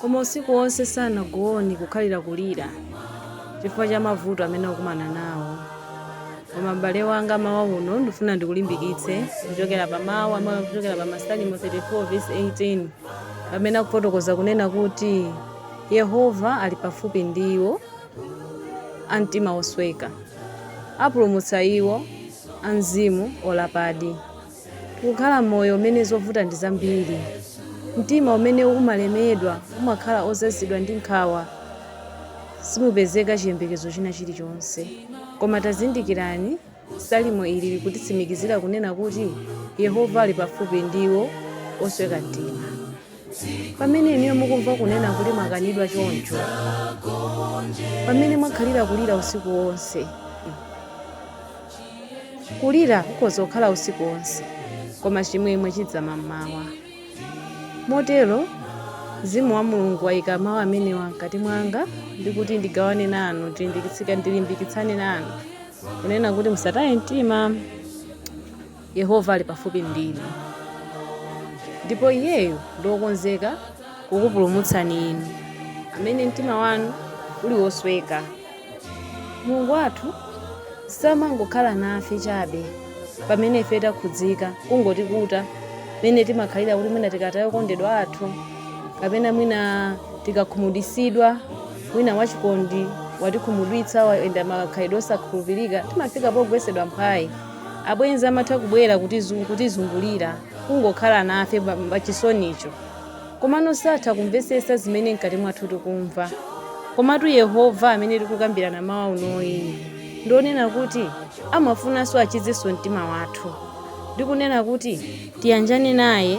Koma usiku onse sanagone kukhalira kulira chifukwa cha mavuto amene akukumana nawo. Koma m'bale wanga, mawa uno ndifuna ndikulimbikitse kuchokera pa mawu amene akuchokera pa Masalimo 34 vesi 18 pamene akufotokoza kunena kuti Yehova ali pafupi ndi iwo a mtima wosweka, apulumutsa iwo a mzimu wolapadi. Tikukhala moyo umene zovuta ndi zambiri. Mtima umene umalemedwa umakhala ozazidwa ndi nkhawa. Simupezeka chiyembekezo china chilichonse. Koma tazindikirani, Salimo ili likutitsimikizira kunena kuti Yehova ali pafupi ndi iwo osweka mtima. Pamene inuyo mukumva kunena kuti mwakanidwa choncho, pamene mwakhalira kulira usiku wonse, Kulira kukhoza kukhala usiku wonse, koma chimwemwe chidza mammawa. Motero, Mzimu wa Mulungu waika mau amenewa mkati mwanga ndi kuti ndigawane nanu, ndilimbikitsane nanu, kunena kuti musataye mtima. Yehova ali pafupi ndi inu, ndipo Iyeyo ndi wokonzeka kukupulumutsani inu amene mtima wanu uli wosweka. Mulungu wathu samangokhala nafe chabe pamene ife takhudzika, kungotikuta mmene timakhalira kuti mwina tikataya okondedwa athu kapena mwina tikakhumudwitsidwa, mwina wachikondi watikhumudwitsa, wayenda makhalidwe osakhulupirika, timafika pogwetsedwa mphwayi. Abwenzi amatha kubwera kutizungulira, kungokhala nafe pa chisonicho, komano satha kumvetsetsa zimene mkati mwathu tikumva. Komatu Yehova amene tikukambirana mmawa unoyi ndi wonena kuti amafunanso achizenso mtima wathu ndi kunena kuti tiyanjane naye.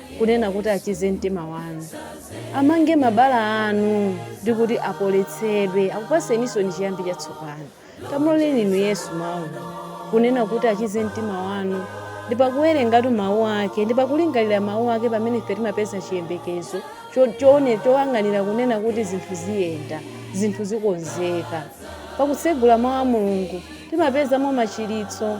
kunena kuti achize mtima wanu amange mabala anu ndi kuti apoletsedwe akupatseninsoni chiyambi chatsopano tamuloleni inu yesu mawu kunena kuti achize mtima wanu ndi pakuwerengatu mawu ake ndi pakulingalira mawu ake pamene ife timapeza chiyembekezo cho- choone choyang'anira kunena kuti zinthu ziyenda zinthu zikonzeka pakutsegula mawu a mulungu timapezamo machiritso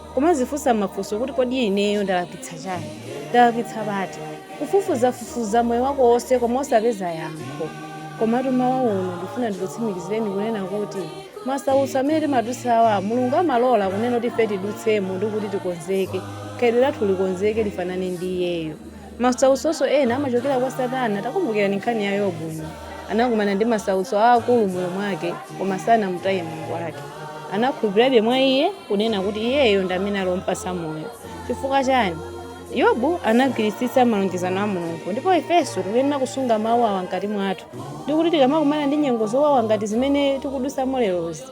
Kumadzifunsa mafunso kuti, Kodi ineyo ndalakwitsa chani? Ndalakwitsa pati? Kufufuzafufuza moyo wako wonse koma osapeza yankho. Komatu mmawa uno ndifuna ndikutsimikizireni kunena kuti masautso amene timadutsawa Mulungu amalola kunena kuti ife tidutsemo ndikuti tikonzeke, khalidwe lathu likonzeke lifanane ndi Iyeyo. Masautso ena amachokera kwa Satana. Takumbukirani nkhani ya Yobu. Anakumana ndi masautso aakulu m'moyo mwake, koma sanamutaye Mulungu wake. Anakhulupirirabe mwa iye, kunena kuti iyeyo ndi amene ali wompatsa moyo. Chifukwa chani? Yobu anagwiritsitsa malonjezano a Mulungu, ndipo ifenso tikuyenera kusunga mawu awa mkati mwathu, ndi kuti tikamakumana ndi nyengo zowawa ngati zimene tikudutsamo lerozi,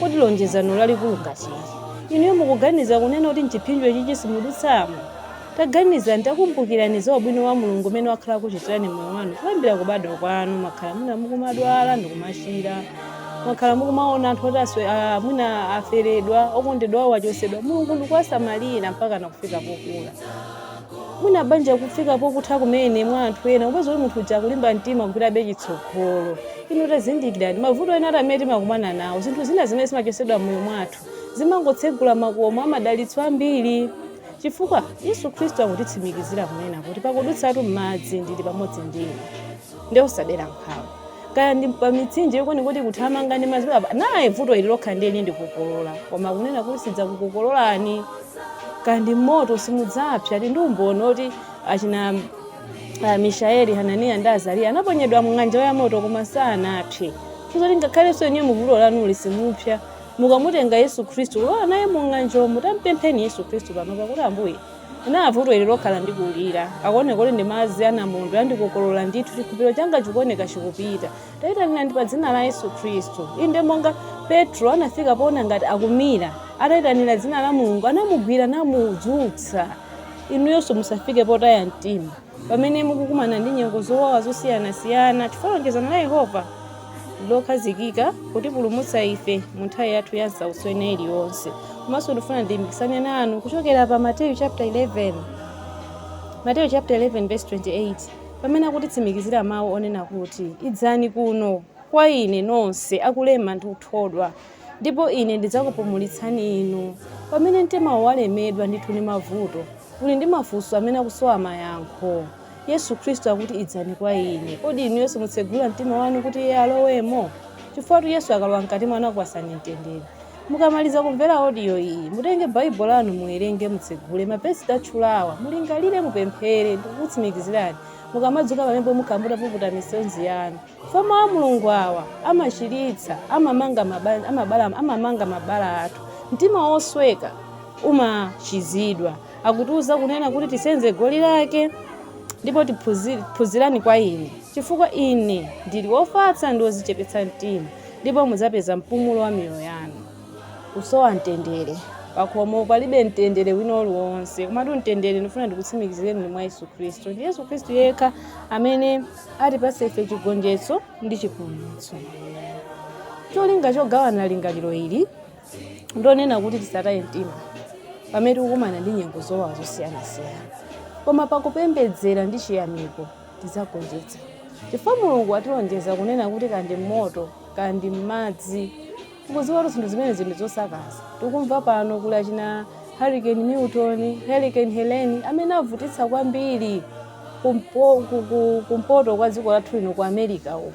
Kodi lonjezano lalikulu ngati ili, inuyo mukuganiza kunena kuti m'chiphinjo ichichi simudutsamo? Taganizani, takumbukirani za ubwino wa Mulungu umene wakhala akuchitirani m'moyo wanu kuyambira kubadwa kwanu. Mwakhala mwina mukumadwala ndi kumachira. Mwakhala mukumaona anthu oti a, mwina aferedwa, okondedwa awo achotsedwa. Mulungu ndikuwasamalira mpakana kufika pokula. mwina banja kufika pokutha kumene mwa anthu ena kupeza kuti munthu uja akulimba mtima kupitabe chitsogolo inu tazindikirani mavuto ena ati amene timakumana nawo zinthu zina zimene zimachotsedwa m'moyo mwathu zimangotsegula makomo amadalitso ambiri chifukwa yesu khristu akutitsimikizira kunena kuti pakudutsatu m'madzi ndili pamodzi ndinu nde osadera nkhawa kaya ndi pa mitsinje yokoni kuti kuthamanga ndi madzi baba naye vuto ili lokha ndiye lindikokolola koma kunena kuti sizakukokololani kaya ndi moto simudzapsa ndi umboni oti achina ah, mishaeli hananiya ndi azariya anaponyedwa mng'anjo ya moto koma sanapse ndiye kuti ngakhalenso inuyo muvuto lanuli simupsa mukamutenga yesu khristu kulowa naye mung'anjomo tampempheni yesu khristu panopa kuti ambuye Inaa vuto ili lokha landikulira. Likuoneka kuti ndi madzi a namondwe andikokolola ndithu. Chikhulupiriro changa chikuoneka chikupita. Tayitanirani pa dzina la Yesu Khristu. Inde monga Petro anafika poona ngati akumira. Atayitanira dzina la Mulungu anamugwira namudzutsa. Inuyonso musafike potaya mtima. Pamene mukukumana ndi nyengo zowawa zosiyanasiyana, chifukwa lonjezano la Yehova lokhazikika kutipulumutsa ife mu nthawi yathu ya nsautso ina iliyonse. Komanso ndifuna ndilimbikitsane nanu kuchokera pa Mate Mateyu chapter 11 verse 28 pamene akutitsimikizira mawu onena kuti idzani kuno kwa ine nonse akulema ndi kuthodwa Ndipo Ine ndidzakupumulitsani inu. Pamene mtimawo walemedwa ndithu ndi mavuto, uli ndi mafunso amene akusowa mayankho. Yesu Khristu akuti, Idzani kwa Ine. Kodi inuyo simutsegula mtima wanu kuti Iye alowemo? Chifukwatu Yesu akalowa mkati mwanu akupatsani mtendere. Mukamaliza kumvera audio iyi, mutenge Bible lanu muwerenge, mutsegule mavesi tatchulawa, mulingalire, mupemphere. Ndikutsimikizirani, mukamadzuka pamenepo mukhala mutapuputa misozi yanu. Fe mawu a Mulungu awa amachiritsa, amamanga mabala athu. Mtima wosweka umachizidwa. Akutiuza kunena kuti tisenze goli lake ndipo tiphunzi- phunzirani kwa ine chifukwa ine ndili wofatsa ndi wozichepetsa mtima ndipo mudzapeza mpumulo wa miyoyo yanu kusowa mtendere pakhomo palibe mtendere wina uliwonse komatu mtendere ndifuna ndikutsimikizireni uli mwa yesu khristu ndi yesu khristu yekha amene atipatsa ife chigonjetso ndi chipulumutso cholinga chogawana lingaliro ili ndonena kuti tisataye mtima pamene tikukumana ndi nyengo zowawa zosiyanasiyana koma pakupembedzera ndi chiyamiko tidzagonjetsa chifukwa mulungu atilonjeza kunena kuti kandi m'moto kandi m'madzi Tikudziwa kuti zinthu zimenezi ndi zosakaza. Tikumva pano kuli achina Hurricane Milton, Hurricane Helene amene avutitsa kwambiri kumpoto kwa dziko lathu lino ku America uko.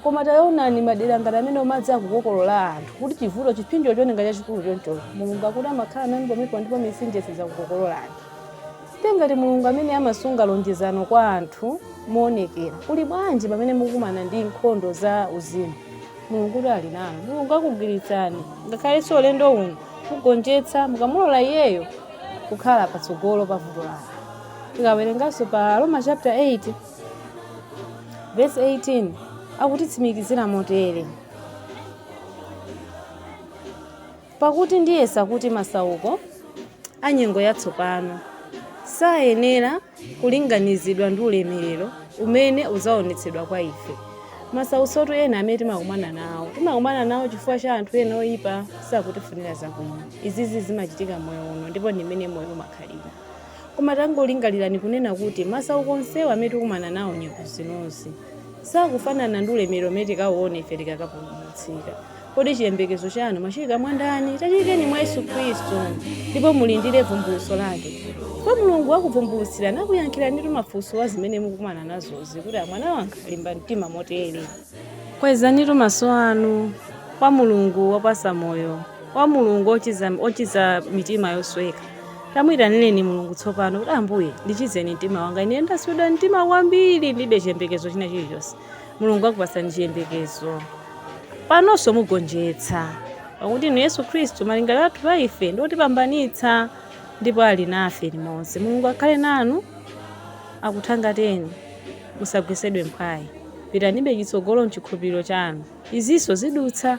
Koma taonani madera ngati amenewo madzi akukokolola anthu kuti chivuto chipsinjo chooneka chachikulu choncho. Mulungu akuti amakhala nanu pomwepo ndipo mitsinje sidzakukokololani. Site ngati Mulungu amene amasunga lonjezano kwa anthu moonekera. Kuli bwanji pamene mukumana ndi nkhondo za uzimu? Mulungutu ali nanu. Mulungu akugwiritsani, ngakhalenso ulendo uno, mugonjetsa mukamulola Iyeyo kukhala patsogolo pa vuto lanu. Tikawerenganso pa Aroma chapter 8 verse 18 akutitsimikizira motere. Pakuti ndiyesa kuti masauko a nyengo yatsopano sayenera kulinganizidwa ndi ulemerero umene udzaonetsedwa kwa ife. Masautsotu ena amene timakumana nawo chifukwa cha anthu ena oyipa sakutifunira zabwino. Izizi zimachitika m'moyo uno ndipo ndi mmene moyo umakhalira. Koma tangolingalirani kunena kuti masauko onsewa amene tikukumana nawo nyengo zinozi, sakufanana ndi ulemerero umene tikauone ife tikakapulumutsidwa. Kodi chiyembekezo chanu mwachiika mwa ndani? Tachiikeni mwa Yesu Kristu, ndipo mulindire bvumbulutso lake. Ndipo Mulungu akubvumbulutsirani, akuyankhiranitu mafunso a zimene mukukumana nazozi kuti, A mwana wanga, limba mtima motere. Kwezanitu maso anu kwa Mulungu wopatsa moyo, kwa Mulungu wochiza mitima yosweka. Tamuitanireni Mulungu tsopano kuti, Ambuye, ndichizeni mtima wanga. Ine ndaswedwa mtima kwambiri, ndilibe chiyembekezo china chilichonse. mulungu akupatsani chiyembekezo panonso mugonjetsa pakuti inu yesu khristu malingaliro athu pa ife ndi otipambanitsa ndipo ali nafe limodzi mulungu akhale nanu akuthangateni musagwesedwe mphwayi pitanibe chitsogolo mchikhulupiriro chanu izinso zidutsa